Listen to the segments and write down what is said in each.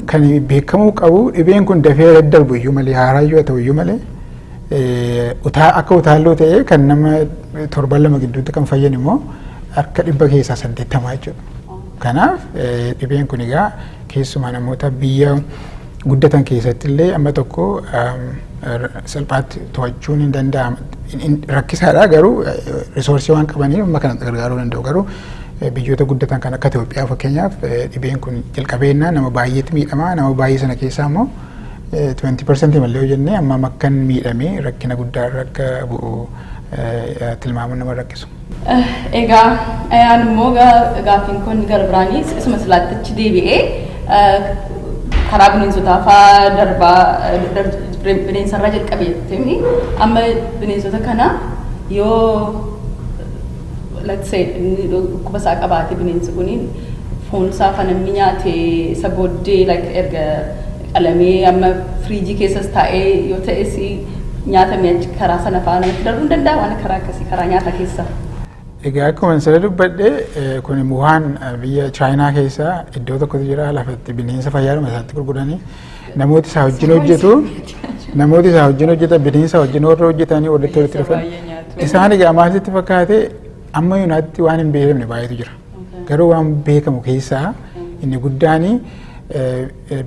Kan beekamuu qabu dhibeen kun dafee daddarbu iyyuu malee haaraa iyyuu haa ta'u iyyuu malee akka utaalloo ta'ee kan nama torban lama gidduutti kan fayyan immoo akka dhibba keessaa saddeettamaa jechuudha. Kanaaf dhibeen kun egaa keessumaa namoota biyya guddatan keessatti illee amma tokko salphaatti to'achuun hin danda'amu. Rakkisaadha garuu risoorsii waan qabaniif amma kanatti gargaaruu danda'u garuu Biyyoota guddatan kan akka Itoophiyaa fakkeenyaaf dhibeen kun jalqabeennaa nama baay'eetti miidhama. Nama baay'ee sana keessaa immoo 20% malee yoo jennee amma makkan miidhamee rakkina guddaa irra akka bu'u tilmaamuun nama rakkisu. Egaa ayaan immoo gaaffiin kun gara biraanis isuma silaattichi deebi'ee karaa bineensotaa fa'aa darbaa bineensarraa jalqabeetti amma bineensota kana yoo let's say inni dhukkuba isaa qabaate bineensi kuni foon isaa fa namni nyaate isa booddee like erga qalamee amma firiijii keessas taa'ee yoo ta'es nyaata mi'achi karaa sana fa'aa namatti darbuu hin danda'a waan karaa akkasii karaa nyaata keessaa. Egaa akkuma siree dubbadhe kun Wuhaan biyya Chaayinaa keessa iddoo tokkotu jira lafatti bineensa fayyaadhuma isaatti gurguranii Namooti isaa wajjin hojjetu namooti isaa wajjin hojjetan bineensa wajjin warra hojjetanii walitti walitti dhufan isaan egaa maasitti fakkaate amma yuunaatti waan hin beekamne baay'eetu jira garuu waan beekamu keessaa inni guddaan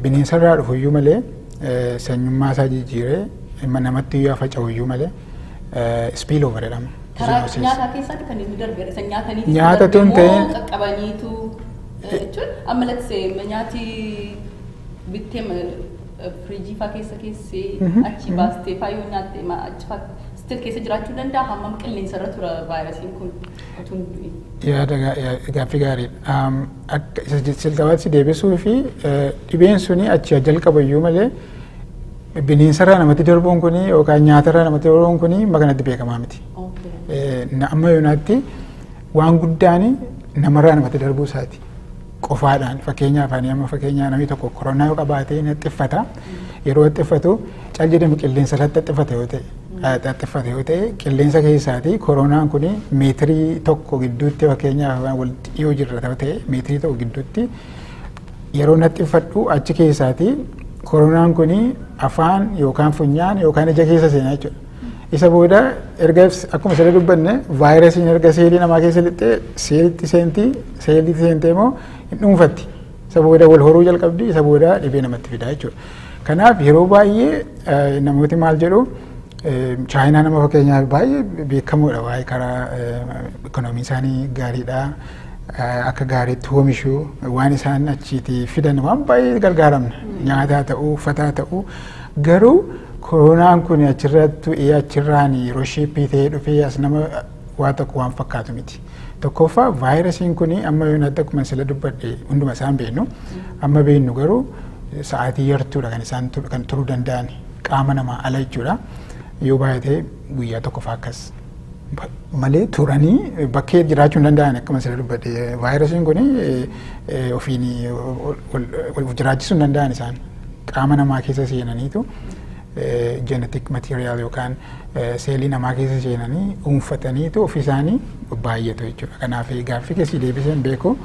bineensarraa dhufu iyyuu malee sanyummaa isaa jijjiiree namatti iyyuu faca'u iyyuu malee spiil over jedhama. Karaa nyaataa keessatti kan inni darbe isa nyaatanii Nyaata tun ta'e- qaqqabaniitu jechuun amma latisee nyaati bittee ma- eh, firiijii faa keessa keessee achi baastee faa yoo nyaatte ma- achi faa still keessa jiraachuu danda'a hammam qilleensa irra tura vaayirasiin kun utuu hin du'in. yaada gaa- yaa- gaaffii gaariidha. Am, Akka isa je- jalqabaatti si deebisuu fi eh, dhibeen suni achi haa jalqabu iyyuu malee bineensarraa namatti darbuun kuni yookaan nyaatarraa namatti darbuun kuni amma kanatti beekamaa miti. Okay. Eh, na- Amma yoonaatti waan guddaan namarraa namatti darbuu isaati. qofaadhaan fakkeenyaaf ani amma fakkeenyaa namni tokko koronaa yoo qabaate inni xiffata yeroo xiffatu cal jedhamu qilleensa irratti xiffate yoo ta'e xiffate yoo ta'e qilleensa keessaati koronaan kun meetirii tokko gidduutti fakkeenyaaf wal dhiyoo jirra yoo ta'e meetirii tokko gidduutti yeroo na xiffadhu achi keessaati koronaan kun afaan yookaan funyaan yookaan ija keessa seenaa jechuudha. Isa booda erga akkuma sirrii dubbanne vaayirasiin erga seelii namaa keessa lixxee seelitti seentii seelitti seentee immoo hin dhuunfatti. Isa booda wal horuu jalqabdi isa booda dhibee namatti fidaa jechuudha. Kanaaf yeroo baay'ee namooti maal jedhu chaayinaa nama fakkeenyaaf baay'ee beekamoodha waa'ee karaa ikoonoomii isaanii gaariidha. Akka gaariitti oomishu waan isaan achiitii fidan waan baay'ee gargaaramna. Nyaataa ta'uu uffataa ta'uu Garuu koronaan kun achirrattu ee achirraan yeroo sheeppii ta'ee dhufee as nama waa tokko waan fakkaatu miti. Tokkoffaa vaayirasiin kun amma yoon adda akkuma sila dubbadhe hunduma isaan beeknu amma beeknu garuu sa'aatii yartuudha kan isaan kan turuu danda'an qaama namaa ala jechuudha. Yoo baay'ate guyyaa tokko fa'aa akkas malee turanii bakkee jiraachuu hin danda'an akkuma sila dubbadhe vaayirasiin kun ofiin jiraachisuu hin danda'an isaan. qaama namaa keessa seenaniitu genetic material yookaan seelii namaa keessa seenanii dhuunfataniitu ofiisaanii baay'atu jechuudha. Kanaaf gaaffii keessi deebisee hin beeku.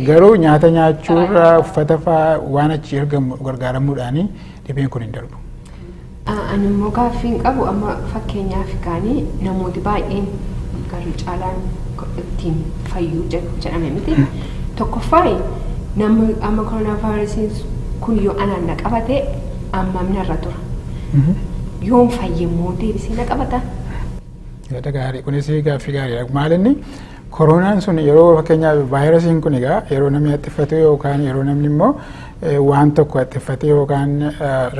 Garuu nyaata nyaachuurra uffata fa'aa waan achi ergamu gargaaramuudhaanii dhibeen kun hin darbu. Ani immoo gaaffiin qabu amma fakkeenyaaf kaanii namooti baay'een garri caalaan ittiin fayyuu jedhame miti. Tokkoffaayi namni amma koronaavaayirasiin kun yoo anaan na qabate ammam narra tura. Yoon fayye immoo deebisee na qabata. Yaada gaarii kunis gaaffii gaariidha. Maalinni Koroonaan sun yeroo fakkeenyaaf vaayirasiin kun egaa yeroo namni haxxiffatu yookaan yeroo namni immoo waan tokko haxxiffatee yookaan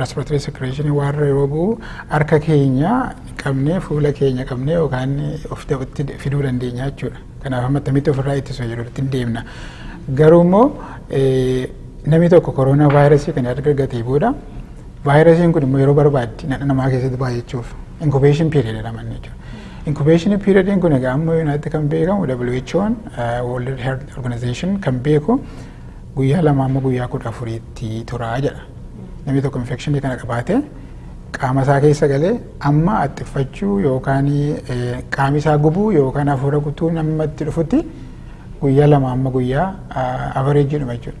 respiratory secretion waan yeroo bu'u harka keenya qabnee fuula keenya qabnee yookaan of itti fiduu dandeenya jechuudha. Kanaaf amma akkamitti ofirraa ittisu jedhu ittiin deemna. Garuu immoo namni tokko koroonaa vaayirasii kan erga argatee booda vaayirasiin kun immoo yeroo barbaaddi namaa keessatti baay'achuuf inkubeeshin piiriyoodii jedhama jechuudha. Inkubeeshinii piiriyodiin kun egaa amma yuunaatti kan beekamu WHO'n World Health Organization kan beeku guyyaa lama amma guyyaa kudha afuriitti turaa jedha. Namni tokko infekshinii kana qabaatee qaama isaa keessa galee amma axxiffachuu yookaan qaami isaa gubuu yookaan hafuura gutuu namatti dhufutti guyyaa lama amma guyyaa avareejiidhuma jechuudha.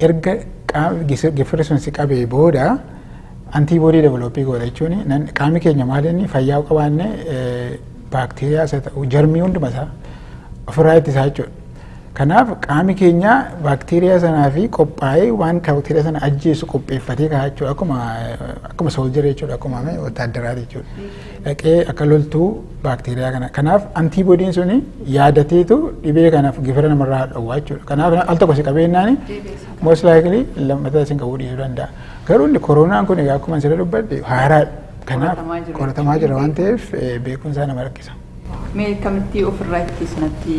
Erga gifirri sun si qabee booda antii boodii developii goota jechuun qaamni keenya maal inni fayyaa qabaanne baakteeriyaa isa ta'u jarmii hunduma isaa ofirraa ittisaa jechuudha. Kanaaf qaamni keenya baakteeriyaa sanaa fi qophaa'ee waan baakteeriyaa sana ajjeesu qopheeffatee kaa'aa jechuudha akkuma sooljarii jechuudha akkuma wataaddaraa jechuudha. dhaqee akka loltu baakteeriyaa kana. Kanaaf antiibodiin suni yaadateetu dhibee kanaaf gifira namarraa dhowwaa jechuudha. Kanaaf al tokko si qabeenyaani most likely lammataa isin qabuu dhiisuu danda'a. Garuu inni koronaan kun egaa akkuma sirrii dubbadhe haaraadha. Kanaaf qoratamaa jira waan ta'eef beekumsaa nama rakkisa. Mee akkamitti ofirraa ittisna natti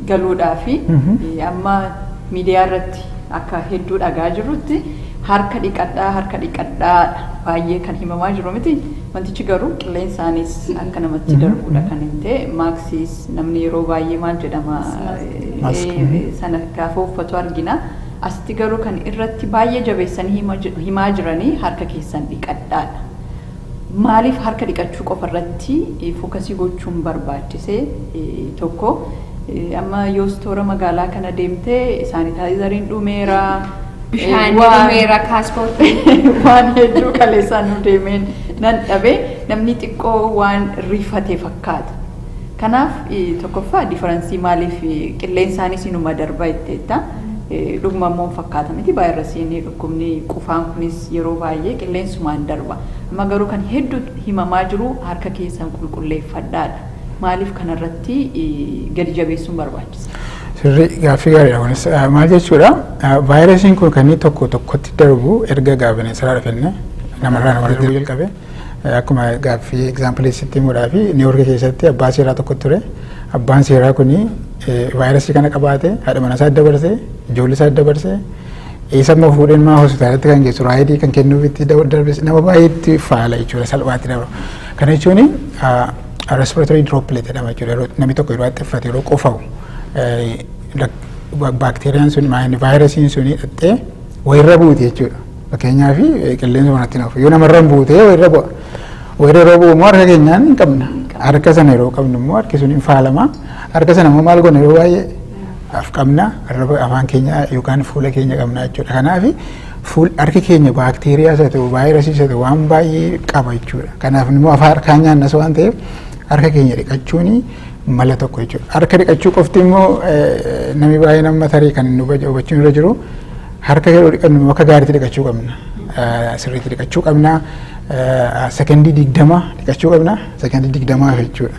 galuudhaafi amma miidiyaa irratti akka hedduu dhagaa jirrutti harka dhiqadhaa harka dhiqadhaadha baay'ee kan himamaa jiru miti wantichi garuu qilleensaanis akka namatti darbuudha kan hin ta'e maaksiis namni yeroo baay'ee maal jedhama sana gaafa uffatu argina asitti garuu kan irratti baay'ee jabeessanii himaa jiranii harka keessan dhiqadhaadha. Maaliif harka dhiqachuu qofa irratti fokasii gochuun barbaachise? 1, Amma yoo stoora magaalaa kana deemte saanitaayizariin dhumeera. Bishaan waan- dhumeera kaaspoortii. waan hedduu kaleessaan nu deemeen nan dhabe namni xiqqoo waan rifate fakkaata. Kanaaf eh, tokkoffaa diferensii maaliif eh, qilleensaanis inuma darba jetteetta. Eh, Dhuguma immoo hin fakkaata miti vaayirasiin Dhukkubni qufaan kunis yeroo baay'ee qilleensumaan darba. Amma garuu kan heddu himamaa jiru harka keessan qulqulleeffadhaa dha. Maaliif kana irratti gadi jabeessuun barbaachise? Sirrii gaaffii gaariidha kunis. Maal jechuudha? Vaayirasiin kun kan inni tokko tokkotti darbu erga gaa bineensaraa dhufenne namarraa namarratti darbuu jalqabe. Akkuma gaaffii egzaampilii sitti himuudhaa fi Niiwoorki keessatti abbaa seeraa tokko ture. Abbaan seeraa kun vaayirasii kana qabaate haadha manaa isaa dabarse ijoollee isaa dabarse Isa immoo fuudhee nama hospitaalatti kan geessu raayidii kan kennuuf itti darbes nama baay'eetti faala jechuudha salphaatti dabra. Kana jechuun respiratory droplet jedhama jechuudha yeroo namni tokko yeroo haxxiffate yeroo qufa'u baakteeriyaan sun maayini vaayirasiin sun hidhattee wayirra buute jechuudha. Fakkeenyaaf qilleensa manatti nafu yoo namarra hin buute wayirra bu'a. Wayirra yeroo bu'u immoo harka keenyaan hin qabna. Harka sana yeroo qabnu immoo harki sun hin faalama. Harka sana immoo maal goona yeroo baay'ee af qabna arraba afaan keenya yookaan fuula keenya qabna jechuudha. Kanaaf fuul harki keenya baakteeriyaas haa ta'u vaayirasiis haa ta'u waan baay'ee qaba jechuudha. Kanaaf immoo afaan harkaan nyaannas waan ta'eef harka keenya dhiqachuun mala tokko jechuudha. Harka dhiqachuu qofti immoo eh, namni baay'een amma tarii kan nu baje- hubachuun irra jiru harka yeroo dhiqannu immoo akka gaariitti dhiqachuu qabna. Eh, Sirriitti dhiqachuu qabna. Eh, Sekondii digdama dhiqachuu qabna. Sekondii digdamaaf jechuudha.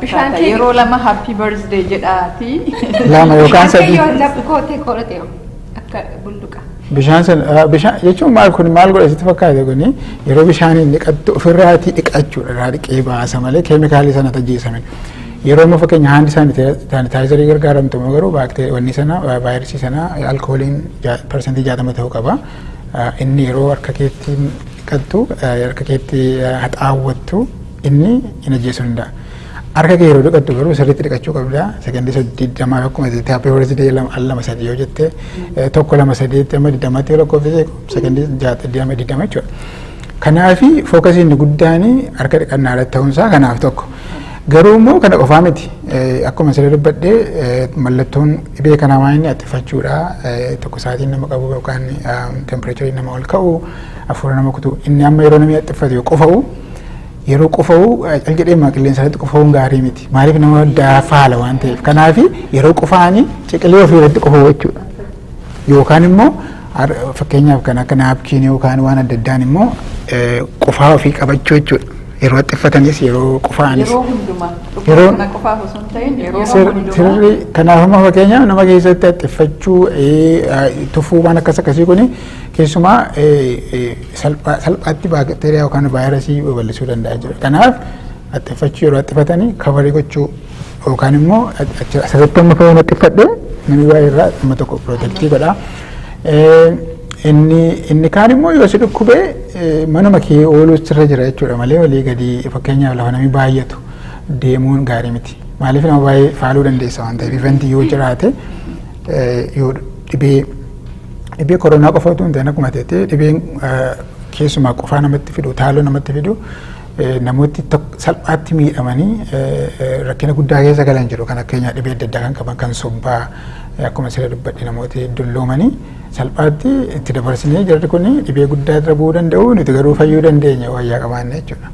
Bishaan kee yeroo lama happy birthday jedhaati. Lama yookaan sadii. Yoo laphuu kootee koodhate akka bulluqa. Bishaan sun ah, bishaan jechuun maal kun maal godhe sitti fakkaate kuni yeroo bishaaniin dhiqattu ofirraatii dhiqachuudha irraa dhiqee baasa malee keemikaalii sana tajjeesame. Yeroo immoo fakkeenya haandi saanitaayizarii gargaaramtu immoo garuu baakteerii wanni sana ah, vaayirasii sana alkooliin parsantii jaatama ta'uu qaba. Ah, Inni yeroo harka keetti dhiqattu ah, harka keetti ah, haxaawwattu Inni hin ajjeesuu danda'a. Harka kee yeroo dhiqattu garuu sirriitti dhiqachuu qabda. Sekondii soddiiddamaa akkuma jettee happy birthday lama al lama sadii yoo jette eh, tokko lama sadeetti amma digdamaatti yoo lakkoofsise sekondii jaatti digdama digdama jechuudha. Kanaafi fookasii inni guddaan harka dhiqannaa irratti ta'uunsaa kanaaf tokko. Garuu immoo kana qofaa miti. Eh, Akkuma siree dubbadhee eh, mallattoon dhibee kanaa waan inni attifachuudha. Eh, Tokko sa'aatiin nama qabu yookaan tempireechariin nama ol ka'u hafuura nama kutu inni amma yeroo namni attifatu yoo qufa'u Yeroo qufa'u cal jedhee maa qilleensa irratti qufa'uun gaarii miti. Maaliif nama daafaa haala waan ta'eef. Kanaaf yeroo qufa'anii ciqilee ofii irratti qufa'u jechuudha. Yookaan immoo fakkeenyaaf kan akka naapkiinii yookaan waan adda addaan immoo qufaa ofii qabachuu jechuudha. Yeroo haxxiffatanis yeroo qufa'anis. Yeroo hundumaa. Yeroo kana qofaaf osoo hin ta'in yeroo hundumaa. Sirri kanaaf amma fakkeenyaaf nama keessatti haxxiffachuu tufuu waan akkas akkasii kuni keessumaa salphaa salphaatti baakteeriyaa yookaan vaayirasii babal'isuu danda'a jira. Kanaaf haxxiffachuu yeroo haxxifatanii kabarii gochuu yookaan immoo asirratti amma fayyina haxxiffadhe namni baay'ee irraa amma tokko pirootektii godha. Inni inni kaan immoo yoo si dhukkubee manuma kee ooluu sirra jira jechuudha malee walii gadi fakkeenyaaf lafa namni baay'atu deemuun gaarii miti. Maaliif nama baay'ee faaluu dandeessa waan ta'eef ifeenti yoo jiraate yoo dhibee dhibee koronaa qofa utuu hin ta'in akkuma ta'e dhibeen keessumaa qufaa namatti fidu taaloo namatti fidu namooti salphaatti miidhamanii rakkina guddaa keessa galan jiru kan akkeenyaa dhibee adda addaa kan qaban kan sombaa akkuma siree dubbadhe namooti dulloomanii salphaatti itti dabarsinee jarri kun dhibee guddaa irra bu'uu danda'u nuti garuu fayyuu dandeenya wayyaa qabaanne jechuudha.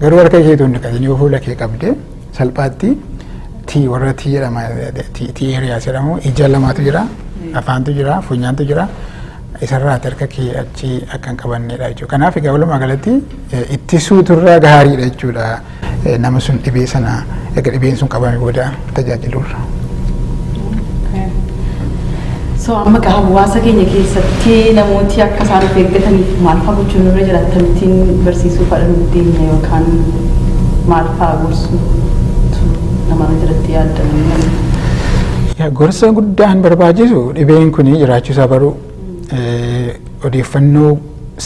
Garuu harka ishee tun dhiqatin yoo fuula kee qabde salphaatti tii warra tii jedhama tii eeriyaas jedhamu ija lamaatu jira afaantu jira funyaantu jira isarraati harka kee achi akka hin qabannedha jechuudha. Kanaaf egaa walumaa galatti ittisuutu irraa gaariidha jechuudha. Nama sun dhibee sana erga dhibeen sun qabame booda. tajaajilurra. So amma gaa hawaasa keenya keessatti namooti akka isaan of eeggataniif maal fa'aa gochuun irra jira akkamittiin barsiisuu fa'aa nuuf deemne yookaan maal fa'aa gorsuu namarra jiratti yaaddanne. Yaa gorsa guddaan barbaachisu dhibeen kun jiraachuusaa baruu odeeffannoo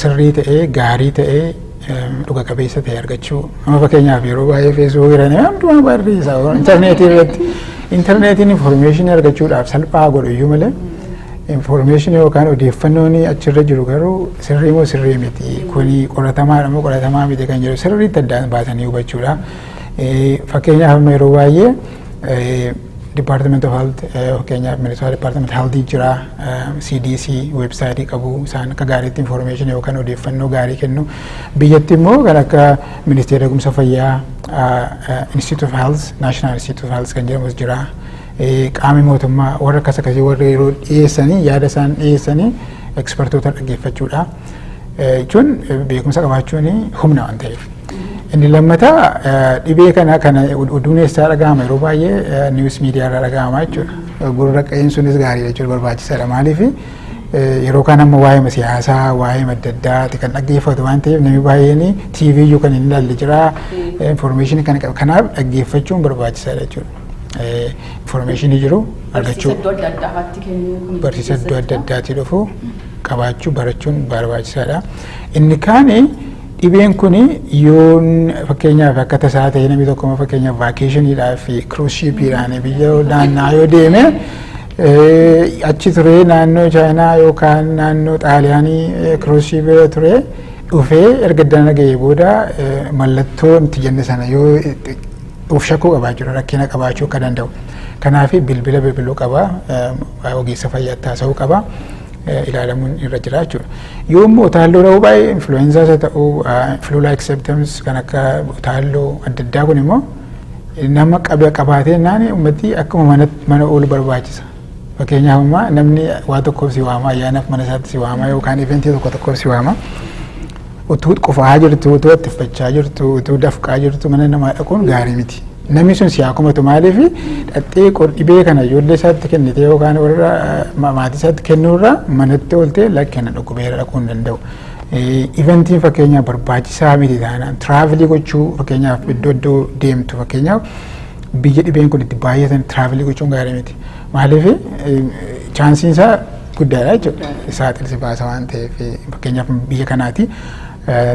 sirrii ta'ee gaarii ta'ee dhuga qabeessa ta'e argachuu amma fakkeenyaaf yeroo baay'ee feesbuuk irra nama hundumaa barreessa intarneetii irratti intarneetiin infoormeeshinii argachuudhaaf salphaa godhu iyyuu malee infoormeeshinii yookaan odeeffannoon achirra jiru garuu sirrii moo sirrii miti kuni qoratamaadha moo qoratamaa miti kan jedhu sirriitti addaan baasanii hubachuudha fakkeenyaaf amma yeroo baay'ee Department of Health fakkeenyaaf Minnesota Department Health jira CDC website qabu isaan akka gaariitti information yookaan odeeffannoo gaarii kennu biyyatti immoo kan akka ministeera eegumsa fayyaa Institute of Health National Institute of Health kan jedhamus jira qaamni mootummaa warra akkas akkasii warra yeroo dhiyeessanii yaada isaan dhiyeessanii ekspertoota dhaggeeffachuudha. jechuun beekumsa qabaachuun humna waan ta'eef. Inni lammataa dhibee kana kana oduun eessaa dhagahama yeroo baay'ee niwus miidiyaa irraa dhagahama jechuudha. Gurra qe'een sunis gaariidha jechuudha barbaachisaadha maaliif yeroo kaan amma waa'ee siyaasaa waa'ee adda addaati kan dhaggeeffatu waan ta'eef namni baay'een TV iyyuu kan hin ilaalle jira information kan qabu kanaaf dhaggeeffachuun barbaachisaadha jechuudha. information jiru argachuu Barsiisa iddoo adda addaa irratti kennuu kun barsiisa iddoo adda addaatii dhufu qabaachuu barachuun barbaachisaadha. Inni kaani dhibeen kun yoon fakkeenyaaf akka tasaa ta'e namni tokko amma fakkeenyaaf vaakeeshiniidhaa fi kiruus shiipiidhaan biyya naannaa yoo deeme eh, achi ture naannoo chaayinaa yookaan naannoo xaaliyaanii eh, kiruus shiipii yoo ture dhufee erga dana ga'ee booda eh, mallattoo nuti jenne sana yoo of shakkuu qabaa jechuudha rakkina qabaachuu akka danda'u. Kanaaf bilbila bilbiluu qaba ogeessa fayyaatti haasa'uu qaba ilaalamuun irra jira jechuudha. Yoo immoo utaalloo dha'uu baay'ee influenza isa ta'uu flu like symptoms kan akka utaalloo adda addaa kun immoo nama qabee qabaatee naani ummati akkuma mana oolu barbaachisa. Fakkeenyaaf ammaa namni waa tokkoof si waama ayyaanaaf mana isaatti si waama yookaan eventii tokko tokkoof si waama. Utuu qufaa jirtu, utuu attiffachaa jirtu, utuu dafqaa jirtu mana namaa dhaquun gaarii miti. Namni sun si haa komatu maaliif dhaxxee dhibee kana ijoollee isaatti kennitee yookaan warra maatii isaatti kennuurraa manatti ooltee lakkina dhukkubeera dhaquu hin danda'u. Iventiin fakkeenyaaf barbaachisaa miti taanaan tiraavilii gochuu fakkeenyaaf iddoo iddoo deemtu fakkeenyaaf biyya dhibeen kun itti baay'atan tiraavilii gochuun gaarii miti. Maaliif chaansiin isaa guddaadha jechuudha. Saaxilsi baasa waan ta'eef fakkeenyaaf biyya kanaati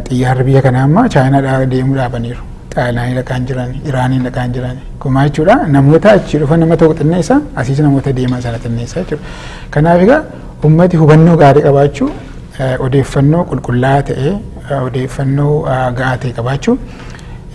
xiyyaarri biyya kanaa amma chaayinaadhaa deemuu dhaabaniiru. Xaaliyaanii dhaqaan jiran, Iraaniin dhaqaan jiran. Kumaa jechuudha namoota achi dhufan nama tokko xinneessa asiis namoota deeman sana xinneessa jechuudha. Kanaaf egaa uummati hubannoo gaarii qabaachuu odeeffannoo qulqullaa'aa ta'ee odeeffannoo ga'aa ta'e qabaachuu